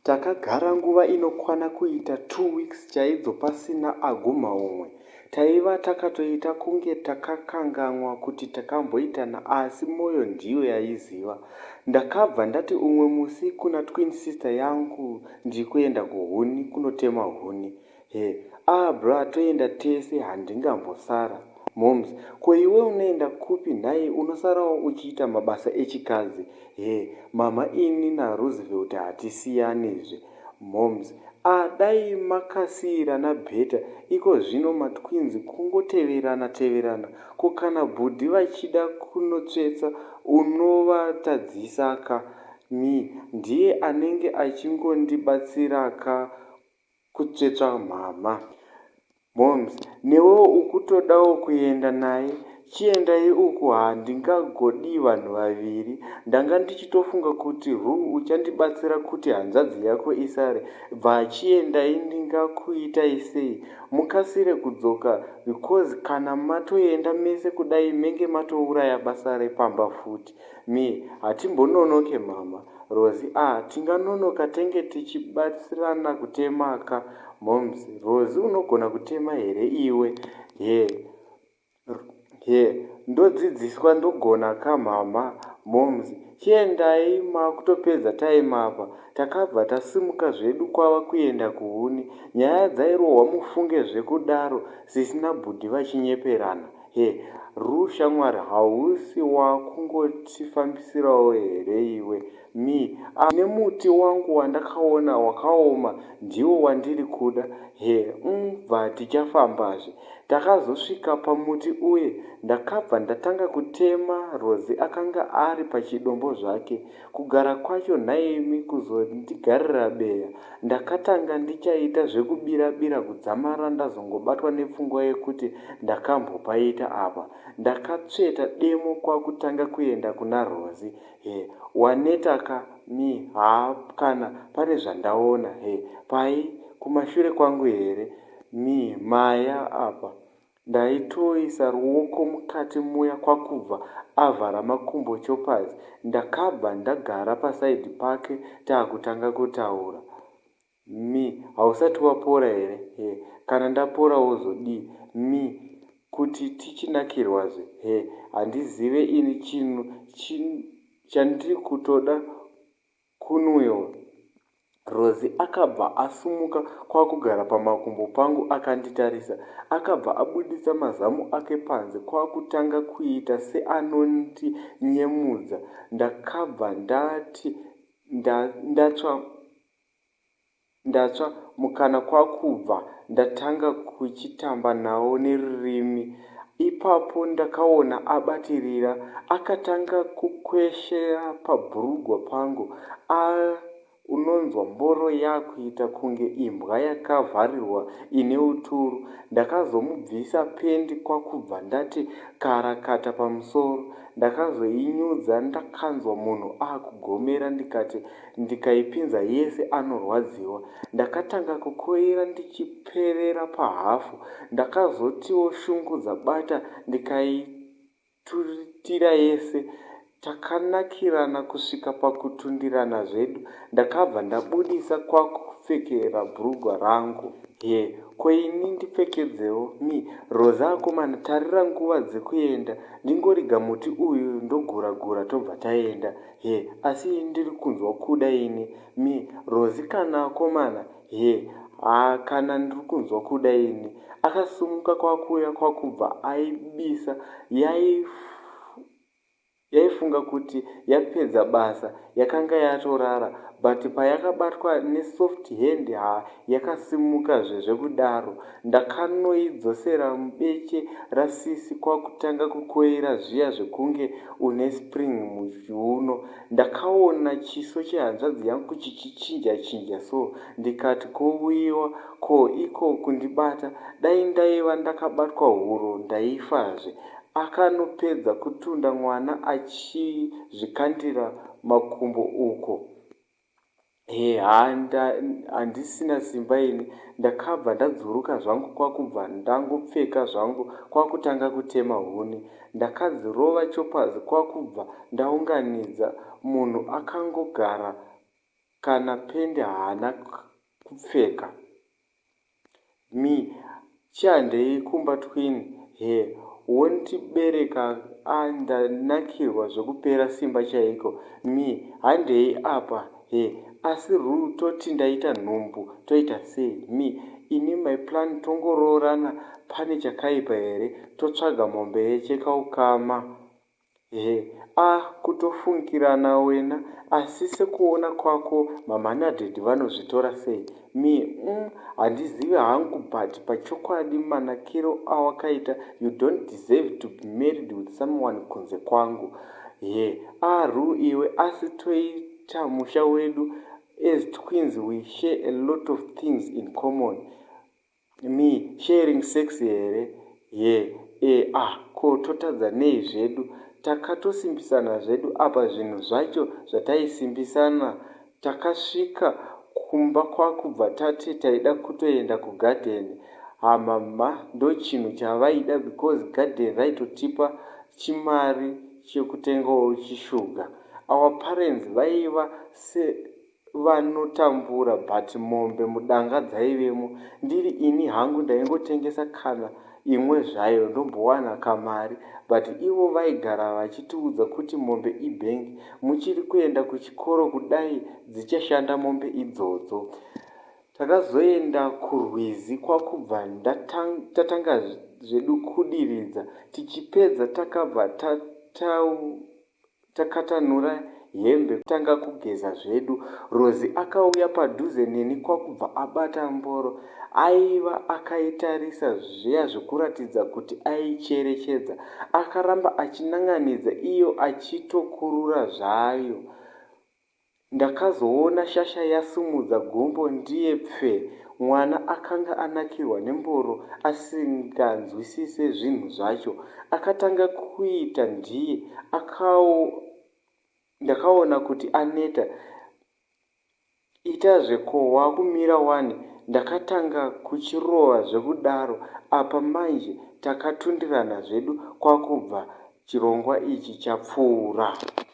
takagara nguva inokwana kuita two weeks chaidzo pasina aguma umwe taiva takatoita kunge takakanganwa kuti takamboitana asi mwoyo ndiyo yaiziva ndakabva ndati umwe musi kuna twin sister yangu ndiri kuenda kuhuni kunotema huni Her, aah bra toenda tese handingambosara. Momz, ko iwe unoenda kupi nhai unosarawo uchiita mabasa echikadzi. Her, mhamha ini naRoosevelt hatisiyanizve. Momz, aah dai makasiirana better ikozvino matwins kungoteverana teverana ko kana bhudhi vachida kunotsvetsa unovatadzisa ka. Me, ndiye anenge achingondibatsira ka kutsvetsva mhamha. Momz. Newewo ukutodawo kuenda naye? Chiendai uku handingagodii vanhu vaviri. Ndanga ndichitofunga kuti hu uchandibatsira kuti hanzvadzi yako isare. Bva chiendai ndingakuitai sei mukasire kudzoka because kana matoenda mese kudai menge matouraya basa repamba futi. Me, Hatimbononoke mhamha. Rozi, Ah tinganonoka tenge tichibatsirana kutema ka. Momz, Rozi unogona kutema here iwe. Her, Her, Ndodzidziswa ndogona ka mhamha. Momz, Chiendai makutopedza time apa. Takabva tasimuka zvedu kwava kuenda kuhuni. Nyaya dzairohwa mufunge zvekudaro sisi nabhudhi vachinyeperana. Her, Rue shamwari hausi wakungotifambisirawo here iwe. Me, Ahh nemuti wangu wandakaona wakaoma ndiwo wandiri kuda. Her, Umm bva tichafambazve. Takazosvika pamuti uye ndakabva ndatanga kutema Rosie akanga ari pachidombo zvake. Kugara kwacho nhaimi kuzondigarira beya ndakatanga ndichaita zvekubira bira kudzamara ndazongobatwa nepfungwa yekuti ndakambopaita apa. Ndakatsveta demo kwakutanga kuenda kuna Rozi Her, Waneta ka Me, Haa kana pane zvandaona Her, Pai? Kumashure kwangu here? Me, Maya apa Ndaitoisa ruoko mukati muya kwakubva avhara makumbo choppers ndakabva ndagara paside pake takutanga kutaura Me, hausati wapora here Her, kana ndapora wozodii Me, kuti tichinakirwazve Her, handizive ini chinhu chandiri kutoda Kunwil. Rosie akabva asumuka kwakugara pamakumbo pangu akanditarisa. Akabva abuditsa mazamu ake panze kwakutanga kuita seanondi nyemudza ndakabva ndati ndatsva. Ndatsva mukana kwakubva ndatanga kuchitamba nawo nerurimi. Ipapo ndakaona abatirira akatanga kukweshera pabhurugwa pangu aah unonzwa mboro yakuita kunge imbwa yakavharirwa ine uturu. Ndakazomubvisa pendi kwakubva ndati karakata pamusoro. Ndakazoinyudza ndakanzwa munhu akugomera ndikati ndikaipinza yese anorwadziwa ndakatanga kukoira ndichiperera pahafu ndakazotiwo shungu dzabata ndikaituritira yese takanakirana kusvika pakutundirana zvedu ndakabva ndabudisa kwakupfekera brugwa rangu Her, ko ini ndipfekedzewo Me, Roza akomana tarira nguva dzekuenda ndingoriga muti uyu ndogura gura tobva taenda. Her, Asi ndiri kunzwa kuda ini. Me, Rozi kana akomana? Her, Haa kana ndiri kunzwa kuda ini. Akasimuka kwakuuya kwakubva aibisa yaifunga kuti yapedza basa yakanga yatorara but payakabatwa nesoft hand haa yakasimuka zve zvekudaro. Ndakanoidzosera mubeche rasisi kwakutanga kukoira zviya zvekunge une spring muchiuno. Ndakaona chiso chehanzvadzi yangu kuchichichinja chinja so ndikati kouyiwa ko iko kundibata dai ndaiva ndakabatwa huro ndaifazve. Akanopedza kutunda mwana achizvikandira makumbo uko. Hey haa handisina simba ini. Ndakabva ndadzuruka zvangu kwakubva ndangopfeka zvangu kwakutanga kutema huni. Ndakadzirova choppers kwakubva ndaunganidza. Munhu akangogara kana pende haana kupfeka. Me, Chi handei kumba twin Her, wont bereka a ndanakirwa zvekupera simba chaiko Me, Handei apa Her, asi Ru toti ndaita nhumbu toita sei Me, Ini my plan tongoroorana pane chakaipa here totsvaga mombe yecheka ukama. Ehe aah kutofungirana wena asi sekuona kwako mamhanadhedhi vanozvitora sei? Me, umm handizivi hangu but pachokwadi manakiro awakaita you don't deserve to be married with someone kunze kwangu. Her, aah Rue iwe asi toita musha wedu as twins we share a lot of things in common. Me, Sharing sex here? Her, Eeh ah ko totadza nei zvedu takatosimbisana zvedu apa zvinhu zvacho zvataisimbisana takasvika kumba kwakubva tati taida kutoenda kugarden hamama ndochinhu chavaida because garden raitotipa chimari chekutengawo chisugar our parents vaiva vanotambura but mombe mudanga dzaivemo ndiri ini hangu ndaingotengesa kana imwe zvayo ndombowana kamari but ivo vaigara vachitiudza kuti mombe ibank muchiri kuenda kuchikoro kudai dzichashanda mombe idzodzo takazoenda kurwizi kwakubva tatanga zvedu kudiridza tichipedza takabva tataura Takatanhura hembe kutanga kugeza zvedu. Rozi akauya padhuze neni kwakubva abata mboro. Aiva akaitarisa zviya zvekuratidza kuti aicherechedza. Akaramba achinan'anidza iyo achitokurura zvayo. Ndakazoona shasha yasumudza gumbo ndiye pfe. Mwana akanga anakirwa nemboro asinganzwisise zvinhu zvacho. Akatanga kuita ndiye akawo ndakaona kuti aneta Itazve ko wakumira wani ndakatanga kuchirova zvekudaro apa manje takatundirana zvedu kwakubva chirongwa ichi chapfuura.